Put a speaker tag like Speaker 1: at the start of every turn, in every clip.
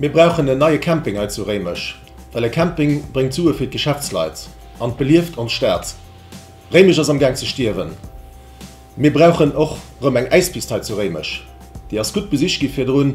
Speaker 1: Mir brauchen en neie Camping hei zu Réimech, well e Camping bréngt Sue fir d'Geschäftsleit an belieft ons Stad. Réimech ass am Gaang ze stierwen. Mir brauchen och rëm eng Äispist hei zu Réimech, déi ass gutt besicht gi virdrun.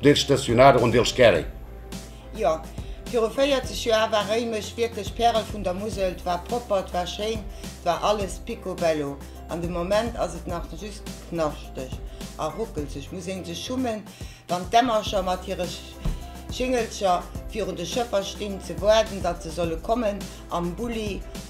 Speaker 1: Del stacionado on dels Carri. Jo, viru 40 Joer war Réimech wierklech Pärel vun der Musel, 't war propper, 't war schéin, 't war alles piccobello. An de Moment ass et nach just knaschteg a ruckelzeg, muss een sech schummen, wann d'Emmercher mat hire Schingelcher virun de Schëffer stinn, ze waarden, datt se solle kommen, am Bulli